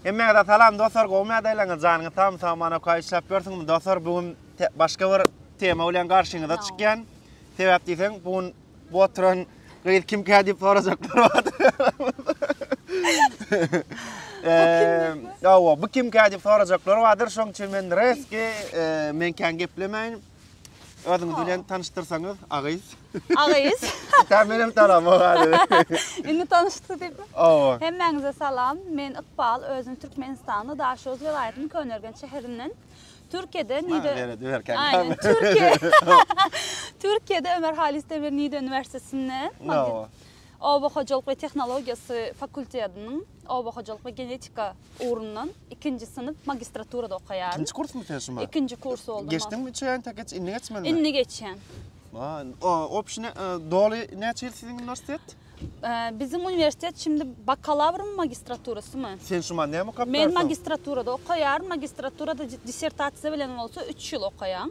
Hemmäňize salam dostlar gowy mädäleňiz janyňyz sag sag mana oka işläp ýörsüňmi dostlar bu gün başga bir tema bilen garşyňyza çykýan sebäp diýseň bu gün bu oturan gyz kim kä diýip sorajaklar bar eee bu kim kä diýip sorajaklar bardyr şoň üçin men reski men kän geplemäýin Özüňiz bilen tanyşdyrsaňyz, agyz. Agyz. Tä menem tanamok hali. Indi tanyşdyk diýip. Owa. Hemmäňize salam. Men Ykbal, özüm Türkmenistanda Daşoguz welaýatynyň Köneürgenç şäherinden. Türkiýede Nide Aýne, Türkiýe. Türkiýede Ömer Haýys Demir Nide uniwersitetinde. Owa. Oba hojalyk we tehnologiýasy fakultetiniň oba hojalyk we genetika ugrundan ikinji synp magistraturada okaýaryn. Ikinji kursmy sen şuma? Ikinji kurs boldum. Geçdiňmi üçe ýaňta geç, indi geçmeli? Indi geçýän. O, opşi ne, doly näçe ýyl siziň uniwersitet? Biziň uniwersitet şimdi bakalawrymy magistraturasymy? Sen şuma näme okap Men magistraturada okaýaryn, magistraturada dissertasiýa bilen bolsa üç ýyl okaýaň.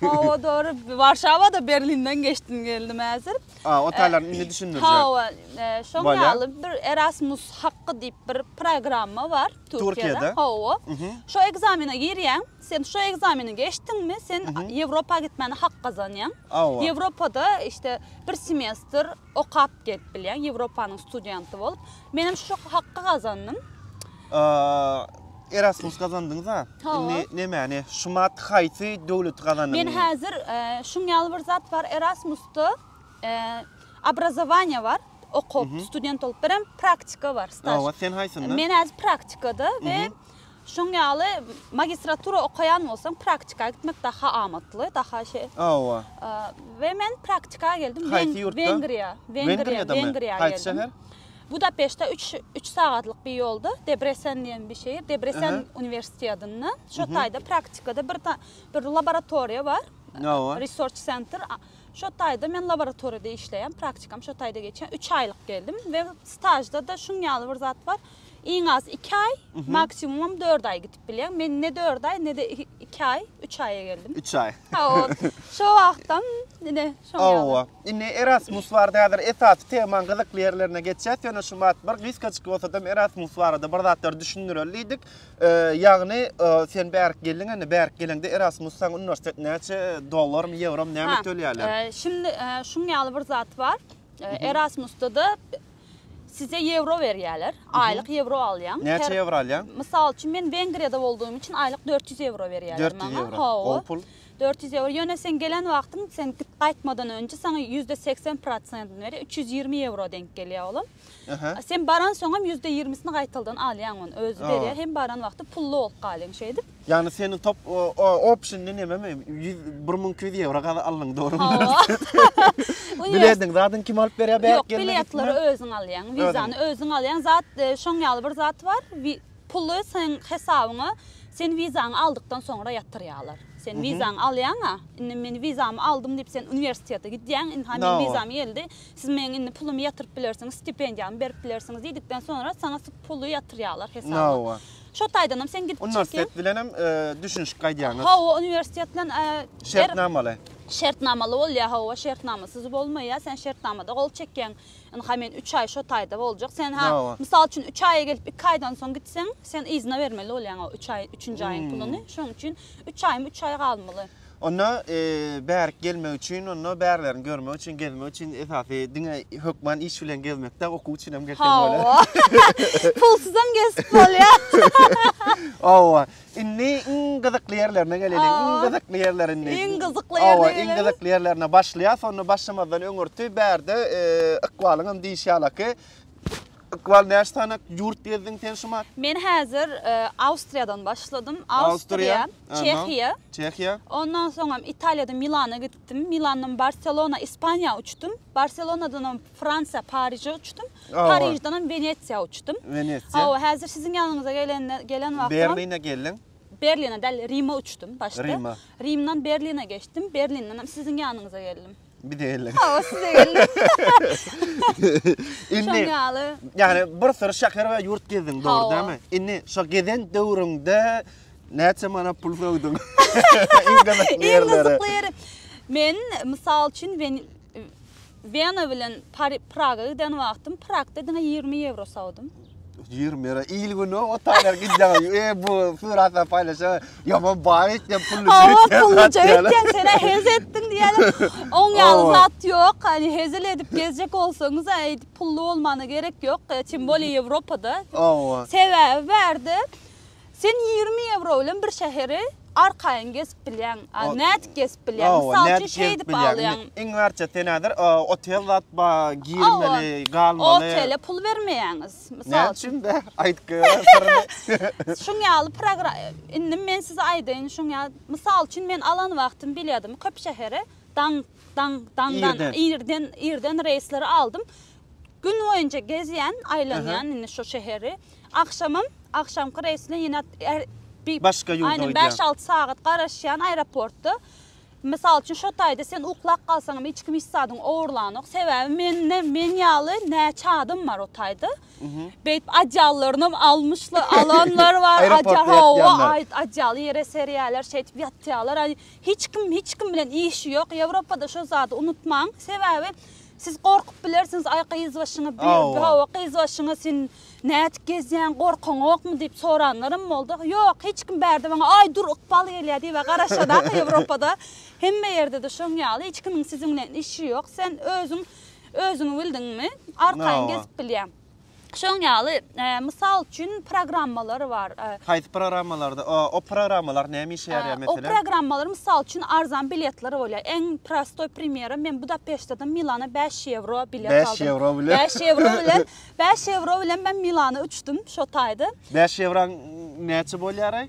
Hawa dogry. Warşawada Berlinden geçdim geldim häzir. A, o taýlaryny indi düşündirjek. Hawa, şoň ýaly bir Erasmus hakky diýip bir programma bar Türkiýede. Hawa. Şo ekzamene girýäň. Sen şo ekzameni geçdiňmi, sen Ýewropa gitmäne hak gazanýaň. Ýewropada işte bir semestr Okap gelip bilýäň, Ýewropanyň studenty bolup. Menem şu hakda gazandym. Erasmus gazandyňyz-a? Indi nämäni? Şumat haýsy döwleti gazandyňyz? Men häzir şuň ýaly bir zat bar, Erasmusda obrazowaniýa bar, okup, student bolup, birem praktika bar, staž. Hawa, sen haýsynda? Men häzir praktikada we Şoň ýaly magistratura okaýan bolsaň, praktika gitmek daha amatly, daha şeý. Hawa. We men praktika geldim. Haýsy ýurtda? Wengriýa. Wengriýa, Wengriýa. Haýsy şäher? Budapeşte 3 3 sagatlyk bir ýolda Debresen diýen bir şeýer, Debresen uniwersitetinde. Şo taýda praktikada bir bir laboratoriýa bar. Hawa. Research center. Şo taýda men laboratoriýada işleýän, praktikam şo taýda geçýän. 3 aýlyk geldim we stažda-da şuň ýaly bir zat bar. iň az iki aý, maksimumam dört aý gidip bilýän. Men ne dört aý, ne-de iki aý, üç aýa geldim. Üç aý. Hawa, şo wagtam ine şoň ýaly. Hawa. Indi Erasmus barada häzir esasy temaň gyzykly ýerlerine geçýäs. Ýöne şu wagt bir gysgajyk bolsa-da Erasmus barada bir zatlar düşündireli diýdik. Ýagny, sen bärik geldiň, indi bärik geleňde Erasmus saňa uniwersitet näçe dollarmy, ýewromy näme tölýärler? Şimdi şuň ýaly bir zat bar. Erasmusda-da Size ýewro berýärler. Aýlyk ýewro alýaň. Näçe ýewro alýaň? Mysal üçin, men Wengriýada boldugym üçin aýlyk dört ýüz ýewro berýärler maňa. Dört ýüz ýewro. Hawa. Gowy pul. Dört ýüz ýewro. Ýöne sen gelen wagtyň, sen gidip gaýtmadan öňji saňa ýüzde segsen prosentini berýär. Üç ýüz ýigrimi ýewro deňk gelýär olam. Sen baransoňam ýüzde ýigrimisini gaýtaldan alýaň ony. Özi berýär. Hem baran wagty pully bolup galýaň şeýdip. Ýagny seniň top opşynyny nememi? Ýüz bir müň iki ýüz ýewro gazy alnyň dogrymy? Hawa. Bilediň zadyň kim alyp berýär bärik gelme. Ýok biletleri özüň alýaň, wizany özüň alýaň. Zat şoň ýaly bir zat bar. Puly seň hesabyňa sen wizaňy aldykdan soňra ýatyrýarlar. Sen wizaňy alýaňa, indi men wizamy aldym diýip sen uniwersitete gidýäň, indi haý wizam geldi. Siz meň indi pulumy ýatyryp bilersiňiz, stipendiýamy berip bilersiňiz diýdikden soňra saňa puly ýatyrýarlar hesabyňa. Şo taýdanam sen gidip çykyň. Uniwersitet bilenem düşünişip gaýdýaňyz. Hawa, uniwersitet bilen şertnamaly. Şertnamaly bolýar, hawa, şertnamasyz bolmaýar. Sen şertnamada gol çekýäň. Ynha men 3 aý şo taýda boljak. Sen ha, mysal üçin 3 aýa gelip 2 aýdan soň gitseň, sen yzyna bermeli bolýaň o 3 aý, 3-nji aýyň puluny. Şonuň üçin 3 aýmy 3 aý galmaly. Onda bärik gelmek üçin, onda bärilerini görmek üçin, gezmek üçin esasy diňe hökman iş bilen gezmek däl, okuw üçin hem gelsek bolar. Hawa. Pulsyzam gezip bolýar. Hawa. Indi iň gyzykly ýerlerine geleliň. Iň gyzykly ýerler indi. Iň gyzykly ýerine gelelim. Hawa, iň gyzykly ýerlerine başlaýas. Onda başlamazdan öňürti bärde ykbalyňam diýişi ýalyky Ykbal näçe sany ýurt gezdiň sen şumat? Men häzir Awstriýadan başladym. Awstriýa, Çehiýa. Çehiýa. Ondan soňam Italiýadan Milana gitdim. Milandan Barselona, Ispaniýa uçdum. Barselonadanam Fransiýa, Paryža uçdum. Paryždanam Wenesiýa uçdum. Wenesiýa. Hawa, häzir siziň ýanyňyza gelende gelen wagtym. Berline geldiň. Berline däl, Rime uçdum başda. Rime. Rimden Berline geçdim. Berlindenem siziň ýanyňyza geldim. Bize gelin. Hawa size gelin. Indi Şaňaly. Yani bir sürü şäher we ýurt gezdiň, dogry Hawa. dämi? Indi şu gezen döwrüňde näçe manat pul söwdüň? Iň gyzykly Iň ýerleri. gyzykly ýeri. Men mysal üçin Wen- Wena bilen Pari- Praga giden wagtym Pragda diňe 20 ýewro sowdum. Ýigrimi ýere il güni otaýlar gidýär. E bu suratlar paýlaşýar. Ýaman baý etýän pully Awa pully jöýtýän senä hez etdiň diýýärler. Oň ýaly zat ýok. Hani hezil edip gezjek bolsaňyz aýt pully bolmana gerek ýok. Tim bolýa Ýewropada. Awa. Sebäbi bärde Sen ýigrimi ewro bilen bir şäheri arkaýyn gezip bilýäň. Nädip gezip bilýäň? Mysal üçin şeýdip alýaň. Iň arça sen häzir otel zat bar, girmeli, galmaly. Otele pul bermeýäňiz, mysal üçin. Näme üçin? Aýt görüm syryny. Şuň ýaly program, indi men size aýdaýyn, şuň ýaly, mysal üçin men alan wagtym bilýadymy köp şähere daňyp. Daň, daňdan, Irden. irden, irden reýsleri aldym. Gün boýunça gezýän, aýlanýan indi şu şäheri. Agşamam, agşamky reýs bilen ýene är- bi- Başga ýurda Aýnan gidýär. bäş-alty sagat garaşýan aeroportda. Mysal üçin, şo taýda sen uklap galsaňam hiç kim hiç zadyňy ogurlanok. Sebäbi mende meň ýaly näçe adam bar o taýda. Beýdip odýallarynam almyşlar, alanlar bar. Aeroportda Odýal, hawa, ýatýanlar. aý- odýaly ýere serýärler, şeýdip ýatýarlar. Aý, Hiç kim hiç kim bilen işi ýok Ýewropada şo zady unutmaň sebäbi siz gorkup bilersiňiz aý gyz başyňy hawa gyz başyňy sen nädip gezýäň gorkyňokmy diýip soranlarym boldy ýok hiç kim bärde maňa aý dur ykbal gelýä diýibä garaşadak Ýewropada hemme ýerdede şoň ýaly hiç kimiň siziň bilen işi ýok sen özüň özüňi bildiňmi arkaýyn gezip bilýäň. Şoň ýaly, mysal üçin, programmalar bar. Haýsy programmalarda? O programmalar näme işe ýaraýar meselem? O programmalar mysal üçin arzan biletler bolýar. Iň prostoý primýeri, men Budapeşteden Milana bäş ýewro bilet aldym. Bäş ýewro bilen? Bäş ýewro bilen. Bäş ýewro bilen men Milana uçdum şo taýda. Bäş ýewroň näçe bolýaraý?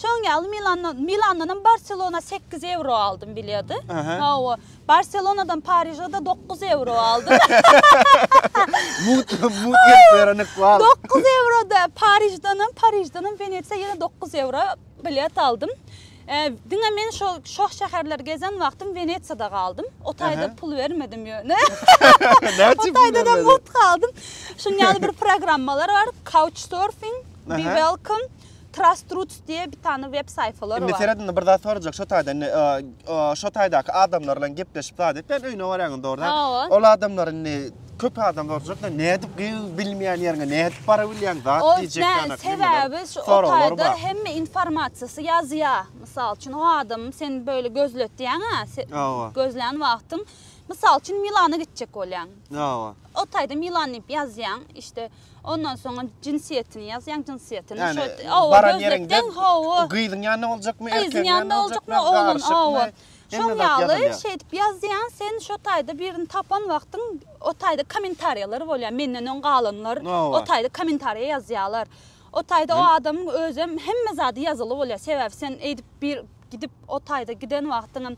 Şoň ýaly Milandan, Milandanam Barselona sekiz ewro aldym bilýady. Aha. Hawa, Barselonadan Pariža-da dokuz ewro aldym. Mut, mut gelip berenik wal. Dokuz ewro-da Pariždanam, Pariždanam Wenesiýa ýene dokuz ewro bilet aldym. E, diňe men şo, şoh şäherleri gezen wagtym Wenesiýada galdym. O taýda Aha. pul bermedim ýöne. Näçe pul O taýda-da bermedi? mut galdym. Şuň ýaly bir programmalar bar, Couchsurfing, Be Aha. Welcome. Trustroots diýe bir tane web saýfalary bar. Indi seret indi bir zat sorajak şo taýda indi şo taýdaky adamlar bilen gepleşip zat et. Sen öýüne barýaň indi orada. Ol adamlar indi köp adam sorajak da nädip gyz bilmeýän ýeriňe nädip bara bilýäň zat diýjek ýanak. Sebäbi şu o taýda hemme informasiýasy ýazýa. Mysal üçin o adam sen böyle gözletýäňä gözlän wagtyň. Mysal üçin Milana gitjek bolýaň. O taýda Milan diýip ýazýaň işte. Ondan soňam jinsiýetini ýazýaň, jinsiýetini şo oba gözlekden hawa. Gyzyň ýanynda boljakmy, erkegiň ýanynda boljakmy? Gyzyň ýanynda boljakmy, ogluň ýanynda boljakmy? Şoň ýaly şeýdip ýazýaň, sen şo taýda birini tapan wagtyň o taýda kommentariýalar bolýar, menden öň galanlar o taýda kommentariýa ýazýarlar. O taýda o adamyň özem hemme zady ýazyly bolýar, sebäbi sen eýdip bir Gidip o taýda giden wagtyňam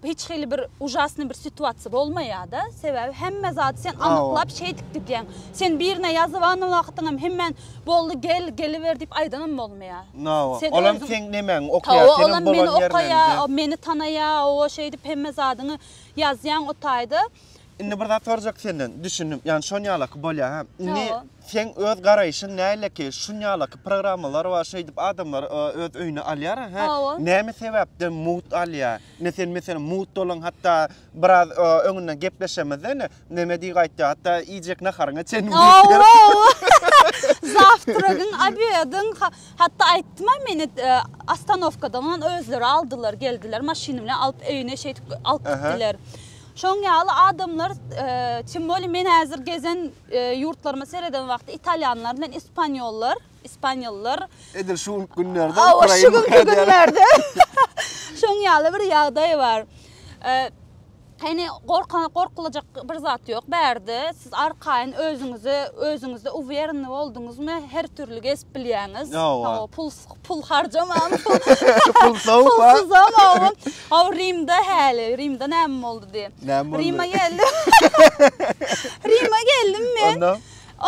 hiç hili bir ujasnyý bir situasiýa bolmaýar-da. Sebäbi hemme zady sen anyklap şeýdip gidýäň. Sen birine ýazyban wagtyňam hemen boldy gel, geliber diýip aýdanam bolmaýar. Nawa, olam seň nemäňi okaýar, senem bolan ýerleňde. Olam meni okaýar, meni tanaýar, owa şeýdip hemme zadyňy ýazýaň o taýda. Indi bir zat sorjak senden, düşündim. Ýani şon ýalaky bolýa hä. Indi Hawa. seň öz garaýşyň näleiki? Şun ýalaky programmalar bar, şeýdip adamlar ö öz öýüne alýar hä. Hawa. Näme sebäpden mugt alýa? Ine sen meselem mugt bolan hatda biraz ö öňünden gepleşemizde ine neme diýg aýtýa hatda iýjek naharyňa çenli diýip ber. Hawa. Zawtragyň obedyň ha hatda aýtdymam men et e ostanowkadan özleri aldylar geldiler maşyn bilen alyp öýüne şeýdip alyp Aha. gitdiler. Şoň ýaly adamlar timwoli men häzir gezen ýurtlaryma sereden wagty italýanlar bilen ispanýollar, ispanýollar Edil şu günlerde Ukraina. Hawa şu günki günlerde. Şoň ýaly bir ýagdaý bar. Hany gorkan gorkulajak bir zat ýok bärde. Siz arkaýyn özüňize özüňizde uwýerni bolduňyzmy her türli gezip bilýäňiz. Hawa pul pul harjamam. Pul sowuk ha. Pul sowuk. Aw Rimde häli, Rimde näme boldy diý. Näme boldy? Rima geldim. Rima geldim men. Onda?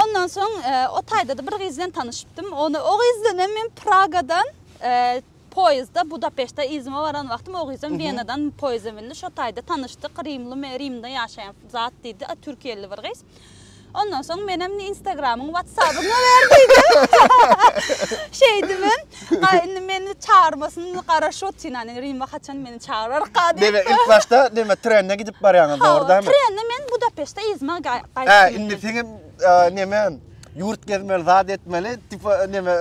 Ondan soň e, o taýda da bir gyz bilen tanyşypdym. Ony o gyz bilen hem men Pragadan e, poýezdda Budapeşte izime baran wagtym o gyz hem Wenadan poýezda bindi. Şo taýda tanyşdyk. Rimli me Rimde ýaşaýan zat diýdi. A, Türkiýeli bir gyz. Ondan soň menem indi Instagramyň, WhatsAppyňy ber diýdim. Şeýdim hem. Ha indi meni çagyrmasyn garaşyp otyryn. Indi Rima haçan meni çagyrarka diýip. Diňe ilk başda näme trende gidip barýaňyz dogry dämi? Trende men Budapeşte yzyma gaýtdym. Hä, indi seň hem näme ýurt gezmeli, zat etmeli, tipa näme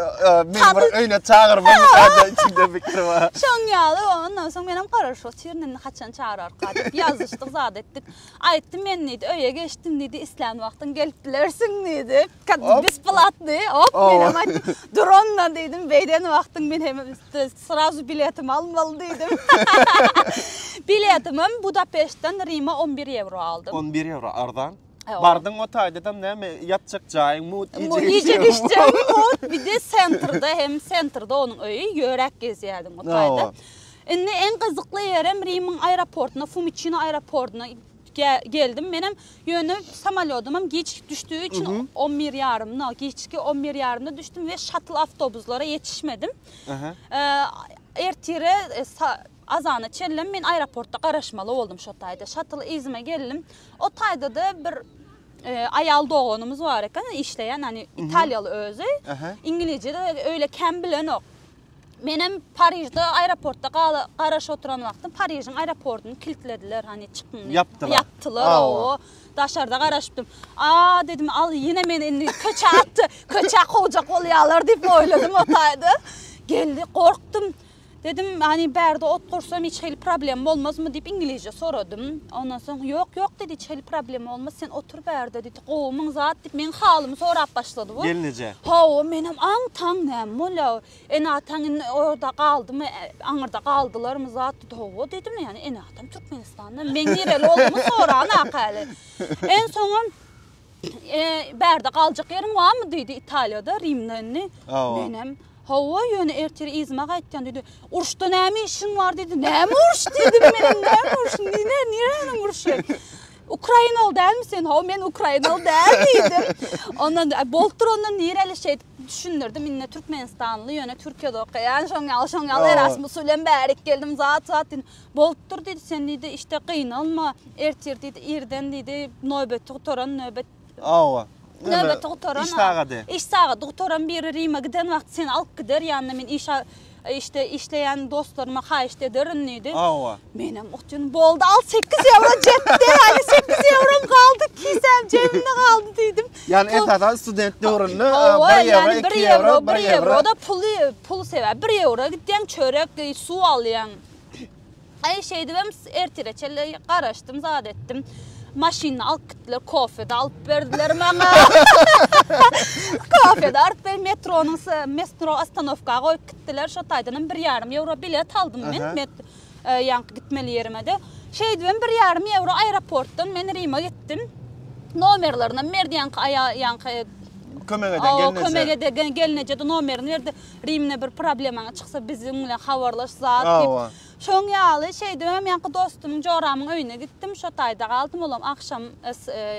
meni bir öýüne çagyrma diýip içimden pikir bar. Şoň ýaly ondan soň menem garaşyp otyryn indi haçan çagyrarka diýip. Ýazyşdyk, zat etdik. Aýtdym men diýdi, öýe geçdim diýdi, islän wagtyň gelip bilersiň diýdi. Kaddy besplatny, hop, men hem aýtdym, dur onda diýdim, beýden wagtyň men hem srazu biletimi almaly diýdim. Biletimem Budapeştden Rime on bir ýewro aldym. On bir ýewro, arzan. Bardyň o taýdadam näme, ýatjak jaýyň mut, iýjek içjegim mut, bir-de sentrde hem, sentrde onuň öýi, ýöräp gezýärdim o taýda. Indi en gyzykly ýerem Rimiň aeroportyna, Fumiçino aeroportyna geldim menem. Ýöne samolýodymam giç düşdügi üçin on bir ýarymda, giçki on bir ýarymda düşdüm we şatl awtobuslara ýetişmedim. Ertire azana çenlem men aeroportda garaşmaly boldum şo taýda. Şatl yzyma geldim. O taýda-da bir aýal doganymyz bar eken, işleýän, ýani italiýaly özi. Iňilizje-de öýle kän bilenok. Menem Parižde aeroportda gala garaş oturan wagtym Parižiň aeroportyny kiltlediler, hani çykyň. Ýapdylar. Ýapdylar, awa. Daşarda garaşypdym. A dedim, al ýene meni indi köçä atdy. Köçä kowjak bolýarlar diýip oýladym o taýda. Geldi, gorkdum. Dedim, hani bärde ot gursam hiç hili problem bolmazmy diýip iňlisçe soradym. Ondan soň, ýok, ýok dedi, hiç hili problem bolmaz, sen otur bärde diýdi. Gowy, müň zat, diýip, meň halymy sorap başlady bu. Gelin eje. Hawa, menem aňtaň näme bolýa. Ene-ataň indi orada galdymy, aňyrda galdylarmy zat, diýdi. Hawa, diýdim, ýani ene-atam Türkmenistanda, meň nireli boldumy soranok häli. Ensoňam, bärde galjak ýeriň barmy, diýdi, Italiýada, Rimde indi. Menem, Hawa, ýöne ertir yzyma gaýtýan, diýdi. Uruşda näme işiň bar, diýdi. Näme uruş, diýdim, menem, näme uruş, nirä, niräniň uruşy. Ukrainaly dälmi sen? Ho, men Ukrainaly däl diýdim. Ondan bolupdyr ondan nireli şeýt düşündirdim. Indi Türkmenistanly, ýöne Türkiýede okaýan, şoň ýaly, şoň ýaly Erasmus bilen bärik geldim, zat zat diýdim. Bolupdyr diýdi, sen diýdi, işte gynalma, ertir diýdi, irden diýdi, nöbeti gutaran nöbet Hawa. Nöbeti gutaran. Iş sagady. Iş sagady gutaran biri Rime giden wagty seni alyp gider ýanyna men işe işte işleýän dostlaryma haýyşt ederin diýdi. Hawa. Menem otdym boldy al sekiz ýewro jetdi ýaly sekiz ýewrom galdy kisäm jebimde galdy diýdim. Ýani esasan student döwründe bir ýewro iki ýewro bir ýewro. Oda puly pul sebäp bir ýewro gidýäň çörek suw alýaň. Aý, şeýdibem ertire çenli garaşdym, zat etdim. Maşyny alyp gitdiler, kofe-de alyp berdiler maňa. Kofe-de alyp berip, metronyň s-e, metro ostanowka goýup gitdiler. Şo taýdanam bir ýarym ýewro bilet aldym men, met, e, ýaňky gitmeli ýerime-de. Şeýdibem bir ýarym ýewro aeroportdan men Rime gitdim. Nomerlaryny berdi ýaňky aýal, ýaňky, e, Kömek eden gelneje. Kömek eden gelneje-de nomerini berdi. Rimine bir problemaň çyksa biziň bilen habarlaş zat diýip. Şoň ýaly şeýdibem ýaňky dostumyň Joramyň öýüne gitdim. Şo taýda galdym. Olam agşam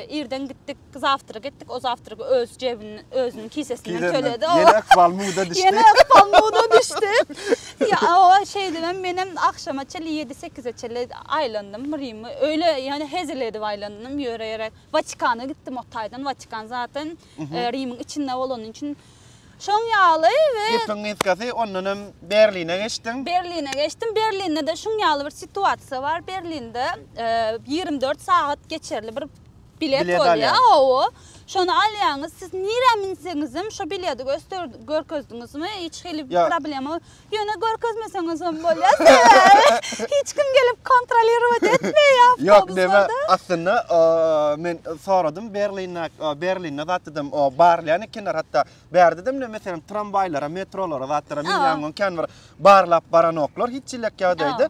irden gitdik. Zawtrag etdik. O zawtragy öz jebin özüniň kisesinden töledi. Ýene ykbal muda düşdi. Ýene ykbal muda düşdi. Ýa-a şeýdibem menem agşama çenli ýedi sekize çenli aýlandym Rimi. Öýle ýöne hezil edip aýlandym. Ýöre-ýöre Watikana gitdim o taýdan. Watikan zatyn. Rimiň içinde bolanyň üçin şoň ýaly we Gepiň gysgasy ondan hem Berline geçdiň. Berline geçdim. Berlinde-de şuň ýaly bir situasiýa bar. Berlinde ýigrimi dört sagat geçerli bir bilet Bilet bolýar. alýaň. Hawa. Şony alýaňyz. Siz nirä münseňizem şo bileti göster görkezdiňizmi? Hiç hili Ýa- problema Ýöne görkezmeseňizem bolýar, sebäbi hiç kim gelip kontrolirowat etmeýär awtobuslary. Ýok, näme, aslynda men soradym Berlinde, Berlinde zatdydym, barlaýan ekenler, hatda bärdedem näme, meselem, tramwaýlara, metrolara zatlara minýän wagt kän bir barlap baranoklar, hiç hili ýagdaýda.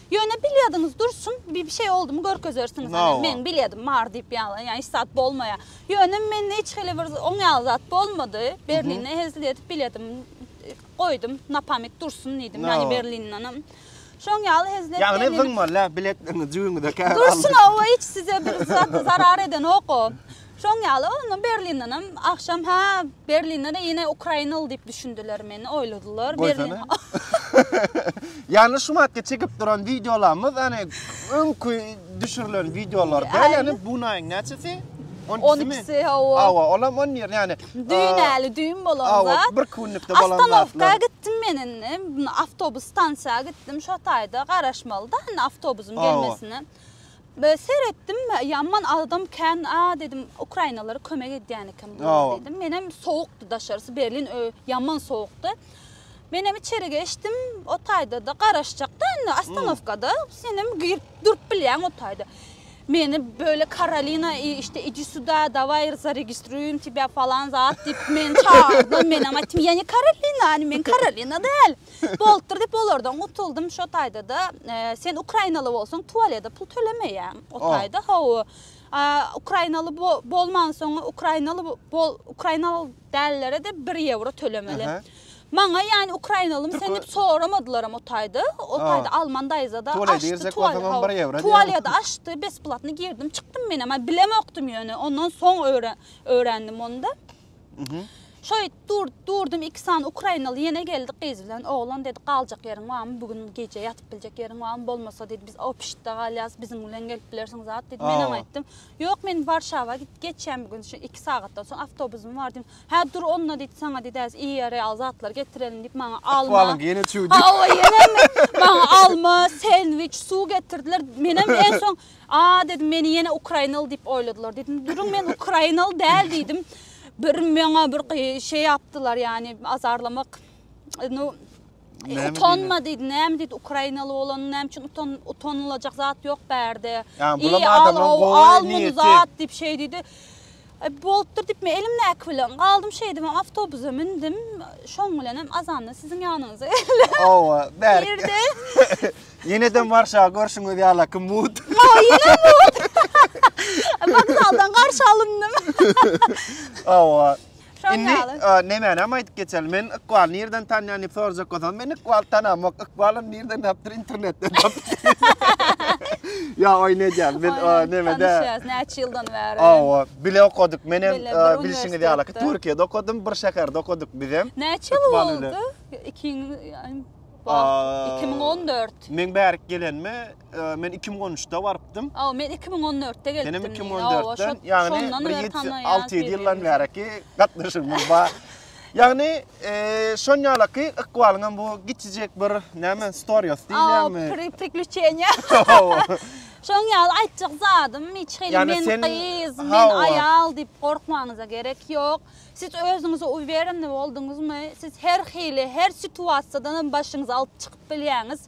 Ýöne bilýediňiz dursun, bir şey oldumy görkezersiňiz. Ýa-a. Men bilýedim bar diýip ýaňy, ýa hiç zat bolmaýar. Ýöne mende hiç hili bir oň ýaly zat bolmady. Berlinde hezil edip bilýedim. Goýdum, na pamyt dursun diýdim, ýa-ni Berlindenem. Şoň ýaly hezil edip. Ýagny zyňmaly-a biletleňiz jübiňize käbir alyp. Dursun-a, o hiç size bir zat zarar edenok o. Şoň ýaly onda Berlindenem agşam hä Berlindede ýene ukrainaly diýip düşündiler meni oýladylar. Goýsana. Ýagny şu matga çekip duran wideolarymyz ýagny öňki düşürilen wideolarda ýagny bu naýyň näçesi? 12-si hawa. Hawa, olam 10 ýer ýagny. Düýnäli düýn bolan zat. Hawa, bir günlükde bolan zat. Astanowka gitdim men indi. Awtobus stansiýa gitdim. Şo taýda garaşmaly da indi awtobusyň gelmesine. Be seretdim ýaman agdam kän a dedim ukrainalara kömek edýän eken bu dedim menem sowukdy daşarysy berlin öý ýaman sowukdy menem içeri geçdim o taýda da garaşjak da indi astanowka da senem girip durup bilýäň o taýda meni böyle karolina işte idi suda davay zaregistruyum тебя falan zat diýip meni çagyrdy menem aýtdym ya ne karolina men karolina däl Bolupdyr diýip olardan gutuldym. Şo taýda-da e, sen ukrainaly bolsaň tualede pul tölemeýäň. O oh. taýda hawa. Ukrainaly bolman soň ukrainaly bol ukrainaly dällere de 1 ýewro tölemeli. Maňa ýani ukrainalym sen diýip soramadylaram o taýda. O taýda alman daýzada açdy tualede. Tualede açdy, besplatny girdim, çykdym menem. Bilemokdym ýöne ondan soň öwrendim onda. Şoýt dur, durdum iki sany ukrainaly ýene geldi gyz bilen oglan dedi galjak ýeriň barmy bu gün gije ýatyp biljek ýeriň barmy bolmasa dedi biz opşitde galýas biziň bilen gelip bilersiň zat dedi men oňa aýtdym ýok men warşawa gidip geçýän bu gün şu iki sagatdan soň awtobusym bar diýdim hä dur onda diýdi saňa diýdi häzir iýer ýaly zatlar getirerin diýip maňa alma ahwalyň ýene çüwdi ha owa ýene maňa alma sendwiç suw getirdiler menem en soň A, dedim, meni ýene ukrainaly diýip oýladylar. Diýdim, duruň, men ukrainaly däl diýdim. Bir meňa bir şey ýapdylar, ýani azarlamak. Nu, utanma diýdi, näme diýdi, ukrainaly bolanyny näme üçin utan, utanylajak zat ýok bärde. Ýani bulam adamlaryň gowy niýeti. Al muny zat diýip şey diýdi. Ep bolupdyr diýip men elimdäki bilen galdym şeýdip hem awtobusa mündüm şoň bilen hem azanda siziň ýanyňyza geldim. Hawa bärik. Girdi. Ýenede marşa görşüňiz ýala kim mut. Hawa ýene mut. Wokzaldan garşy alyndım. Hawa. Indi nämäni hem aýdyp geçeli men ykbaly nirden tanýan diýip sorajak bolsaňyz men ykbaly tanamok ykbal Nirden tapdyr internetden tapdyr. Ya oy ne diýen biz neme de. Tanşýas näçe ýyldan bäri. Awa bile okadyk. Men hem bilşiňiz ýaly Türkiýede okadym, bir şäherde okadyk biz hem. Näçe ýyl boldy? 2014. Men bärik gelenme, men 2013-de barypdym. Aw, men 2014-de geldim. Senem 2014-den, ýagny bir 6-7 ýyldan bäriki gatnaşygymyz bar. Ýagny, şon ýalaky ykbalyň hem bu giçijek bir näme stories diýýämi? Pri priklýuçeniýa. Şoň ýaly aýtjak zadym hiç hili men gyz, men aýal diýip gorkmagyňyza gerek ýok. Siz özüňize uwereni bolduňyzmy, siz her hili, her situasiýadan hem başyňyzy alyp çykyp bilýäňiz.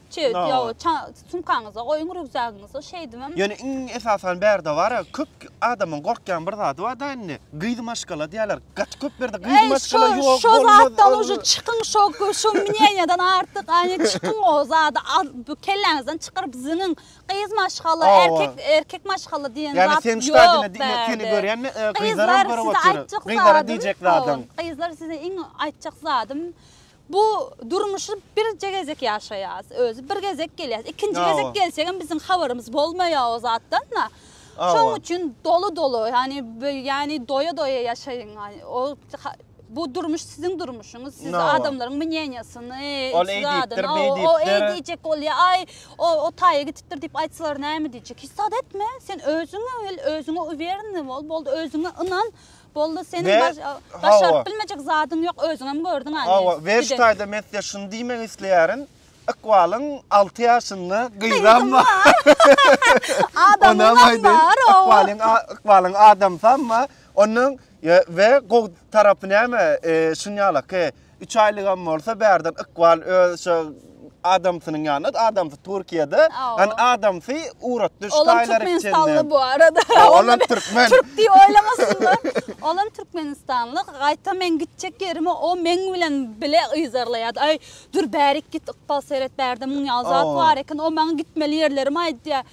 Çöýüp, Ynha, ýa bar. ça- sumkaňyza goýuň, rýukzagyňyza, şeýdibem. Ýöne iň esasan bärde bar-a, köp adamyň gorkýan bir zady bar-da indi, gyz maşgala diýýärler. Gaty köp bärde gyz Eý, maşgala şo, ýok, şo bolmaz, zatdan bolmaz. uje çykyň, şo, şo mneniýadan artyk, ane, çykyň o zady al, bu kelläňizden çykaryp zyňyň. Gyz maşgala, Hawa. erkek, erkek maşgala diýen Ýani zat sen ştadyna ýok diňe seni bärde. görýänini, e, gyzlaram Gyzlar görüp size otyr. aýtjak Gyzlara zadym, diýjek hawa, zadyň. gyzlar size iň aýtjak zadym, Bu durmuşy birje gezek ýaşaýas. Özi bir gezek gelýäs. Ikinji gezek gelsegem biziň habarymyz bolmaýar o zatdan da. Şoň üçin doly doly, ýani ýani doýa doýa ýaşaýyň. O bu durmuş siziň durmuşyňyz. Siz adamlaryň mneniýasyny, zadyny, o eý diýjek bolýa, aý o o taýa gitipdir diýip aýtsalar näme diýjek. Hiç zat etme. Sen özüňe bil, özüňe uwereniň bol, boldy özüňe ynan. Boldy seniň başaryp bilmejek zadyň ýok özüňem gördüň aýy. Hawa Weş daýza men size şuny diýmek isleýärin. Ykbalyň 6 ýaşynda gyzam bar. Adamam bar. Ykbalyň Ykbalyň adamsam bar. Onuň we gowy tarapy näme? Şunyalak. Üç aýlygam bolsa bärden ykbal öz şo adamsynyň ýanyna, adamsy Türkiýede, an adamsy ugrutdy şu taýlary içinde. Olam türkmenistanly bu arada. Olam türkmen. Türk diýip oýlamasynlar. Olam türkmenistanly. Gaýta men gitjek ýerimi o meň bilen bile yzarlaýardy. Aý, dur bärik git ykbal seret bärde muň ýaly zat bar eken. O maňa gitmeli ýerlerimi aýdýar.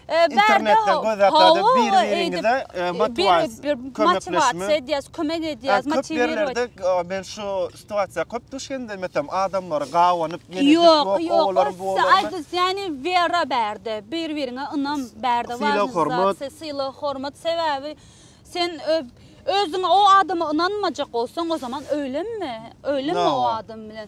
internetden göz atady bir biriňize motiwasiýa edýäs kömek edýäs motiwirowat edýäs men şu situasiýa köp duş geldim eýsem adamlar gabanyp ýok ýok aýdys ýany wera bärde bir biriňe ynam bärde sylag hormat sylag hormat sebäbi sen özüňe o adama ynanmajak bolsaň o zaman öýlenme öýlenme o adam bilen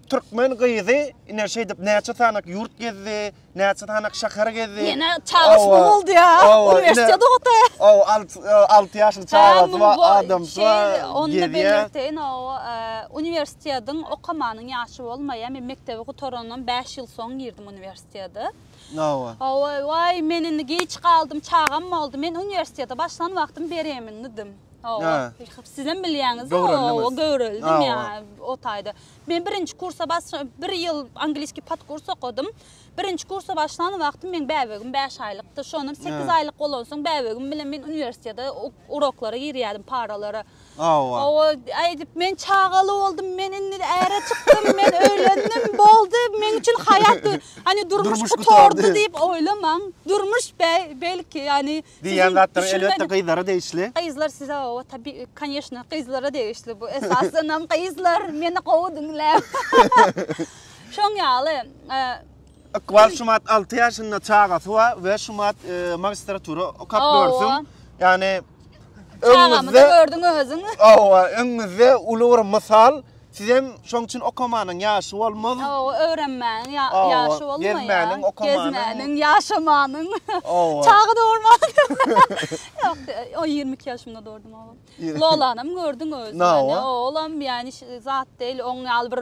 Türkmen gyzy ine şeýdip näçe sanak ýurt gezdi, näçe sanak şäher gezdi. Ýene çagasy Owa, boldy ýa. owa, Uniwersitet ine- okady. Ow, alt, e, alty ýaşly çagasy bar, adamsy Şey, bar, Ony da gezýär. belleteýin, o e, uniwersitetiň okamanyň ýaşy bolmaýar. Men mekdebi gutarandan bäş ýyl soň girdim uniwersitete. Owa. Owa, waý, men indi giç galdym, çagam boldy. Men uniwersitete başlan wagtym beremndim. Owa. Hä. Sizem bilýäňiz-de, Göwreliňiz. owa, göwreldim Owa. ýa o taýda. Men birinji kursa basja bir ýyl angliski podkurs okadym. Birinji kursa başlan wagtym meň bäbegim bäş aýlykdy. Şondan sekiz aýlyk bolansoň bäbegim bilen men uniwersitete uroklara girýärdim, paralara. Hawa. Hawa, aýdyp men çagaly boldum, men indi äre çykdym, men öýlendim, boldy, meň üçin haýat, ýani durmuş Durmuş gutardy. gutardy diýip oýlamaň. Durmuş be- belki, ýani Diýýän zatlaryň elbetde gyzlara degişli. Gyzlar size oba tabi koneşna gyzlara degişli bu esasynam gyzlar meni gowy diňläň. Şoň ýaly e, Ykbal Şumat 6 ýaşynda çagasy wa we Şumat e, magistratura okap Owa. görsün. Ýani Çagamy da gördüň özüň. Owa, öňüňizde uly bir mysal. Sizem şoň üçin okamanyň ýaşy bolmaz. Hawa, öwrenmäniň ýaşy bolmaýar. Gezmäniň, okamanyň. Gezmäniň, ýaşamanyň. Hawa. Çaga dogurmanyň. Ýok, o ýigrimi iki ýaşymda dogurdym ogly. Lolanam gördüň özüň. Hawa. Oglam ýani zat däl, oň ýaly bir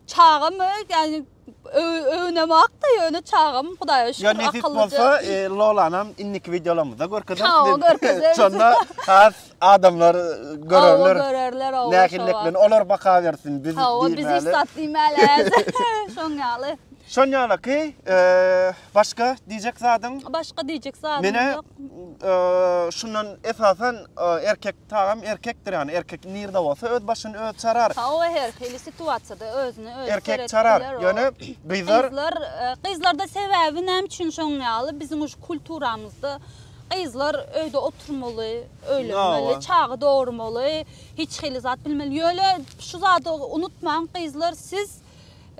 çagamy, ýani Öwünem akda ýöne çagam Hudaýa şükür akyllyja. Ýa nesip bolsa Lolanam indiki wideolarymyzda görkezeris. Hawa görkezeris. Şonda has adamlar görerler. Hawa görerler hawa. Nähilliklerini olar baka bersin biz diýmäli. Hawa biz hiç zat diýmäliz. Şoň ýaly. Şoň ýalyky Başga diýjek zadyň? Başga diýjek zadym ýok. Menä şundan esasan erkek tagam erkekdir ýany erkek nirde bolsa öz başyny öz çarar. Ha oe her hili situasiýada özüni özi seretip biler. Erkek çarar ýöne gyzlar. Gyzlar gyzlarda sebäbi näme üçin şoň ýaly biziň şu kulturamyzda gyzlar öýde oturmaly, öýlenmeli, çaga dogurmaly, hiç hili zat bilmeli. Ýöne şu zady unutmaň gyzlar siz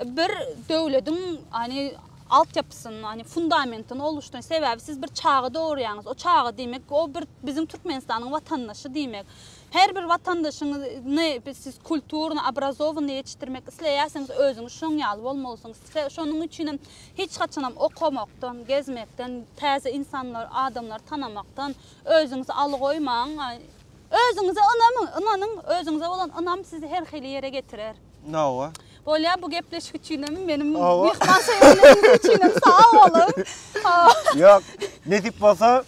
Bir döwlediň ani altyapysyny, ani fundamentini oluşdyran sebäbi siz bir çaga dogurýaňyz. O çaga diýmek, o bir biziň Türkmenistanyň watandaşy diýmek. Her bir watandaşyňyzy siz kulturny, obrazowany ýetişdirmek isleýärsiňiz, özüňiz şoň ýaly bolmalysyňyz. Size şonuň üçin hem hiç haçan hem okamakdan, gezmekden, täze insanlar, adamlary tanamakdan özüňizi alygoýmaň. Özüňize ynamyň, ynanyň, özüňize bolan ynam sizi her hili ýere getirer. Nawa. Bolýar bu gepleşik üçinem, meniň myhman söýerligiňiz üçinem sag boluň. Ýok, nesip bolsa,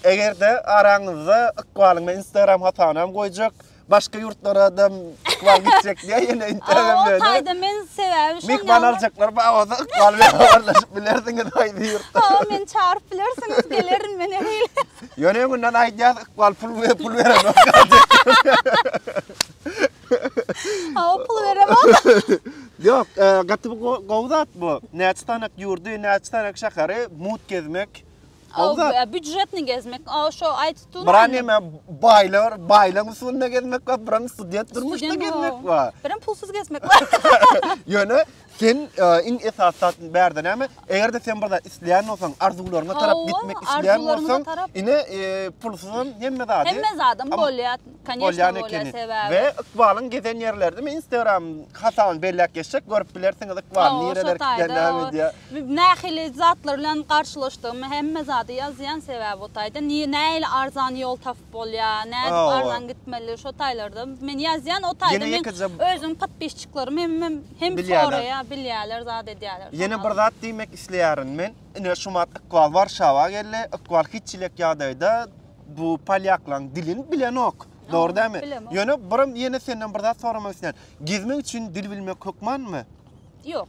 eger-de araňyzda ykbalyň men Instagram hasanam goýjak, başga ýurtlara da ykbal gitjek diýä ýene Instagram bilen. Ýok, aýda men sebäbi şonda. Myhman aljaklar bar bolsa ykbal bilen habarlaşyp bilersiňiz aýdy ýurtda. Hawa, meni çagyryp bilersiňiz, gelerin men her ýyl. Ýöne öňünden aýdýas, ykbal pul pul berenok. Ha, o pul berem Yok, e, gaty bu gowy zat bu. Näçe tanak ýurdy, näçe tanak şäheri mut gezmek. Gowy zat. E, Büjetini gezmek. O şo aýtdyň. Biran näme baýlar, baýlaň usulynda gezmek we biran student durmuşda gezmek we. Biran pulsuz gezmek we. Ýöne Sen iň esasy zat indi bärde näme? Eger-de sen bir zat isleýän bolsaň, arzuwlaryňa tarap gitmek isleýän bolsaň, ine pulsuzam hemme zady. Hemme zadam bolýar, kanyýeşna bolýar sebäbi. We ykbalyň gezen ýerleri diýme, Instagram hasabyny belläp geçsek görüp bilersiňiz ykbalyň nireler gitýän näme diýýär. Nähili zatlar bilen garşylaşdygymy hemme zady ýazýan sebäbi o taýda. Nähili arzan ýol tapyp nädip bolýa, nädip arzan gitmeli şo taýlarda. Men ýazýan o taýda men özüm podpisçiklerim hemmem hem soraýa bilýäler zat edýäler. Ýene bir zat diýmek isleýärin men. Ine şu wagt Ykbal Warşawa geldi. Ykbal hiç çilek ýagdaýda bu polýaklaň dilini bilenok. Dogry dämi? Ýöne birim ýene senden bir zat soramak isleýän. Gezmek üçin dil bilmek hökmanmy? Ýok.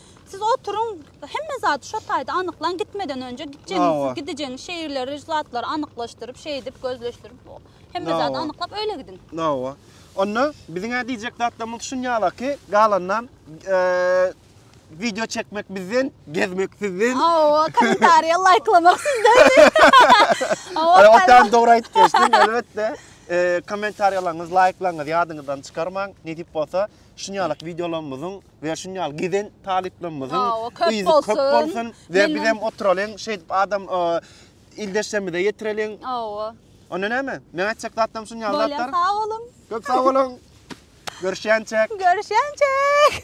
Siz oturyň, hemme zady şo taýda anyklaň, gitmeden önje gitjegiňiz, gidijeginiz şeýrleri, zatlary anyklaşdyryp, şeýdip, gözleşdirip, hemme zady anyklap öýle gidiň. Hawa. Onda biziň-ä diýjek zatlarymyz şun ýala ki, galanynam wideo çekmek bizden, gezmek sizden. Hawa, kommentariýa laýklamak sizden. Hawa, o taýdan dogry aýdyp geçdiň, elbetde. Kommentariýalaryňyzy laýklaňyz, ýadyňyzdan çykarmaň. Nesip bolsa, şun ýaly wideolarymyzyň we şun ýaly giden talyplarymyzyň yzy köp bolsun we biz hem oturalyň şeýdip adam ildeşlerimize ýetireliň. Hawa. Onda näme? Men aýtjak zatlarym şun ýaly zatlar. Bolýar, sag boluň. Köp sag boluň. Görüşýänçäk. Görüşýänçäk.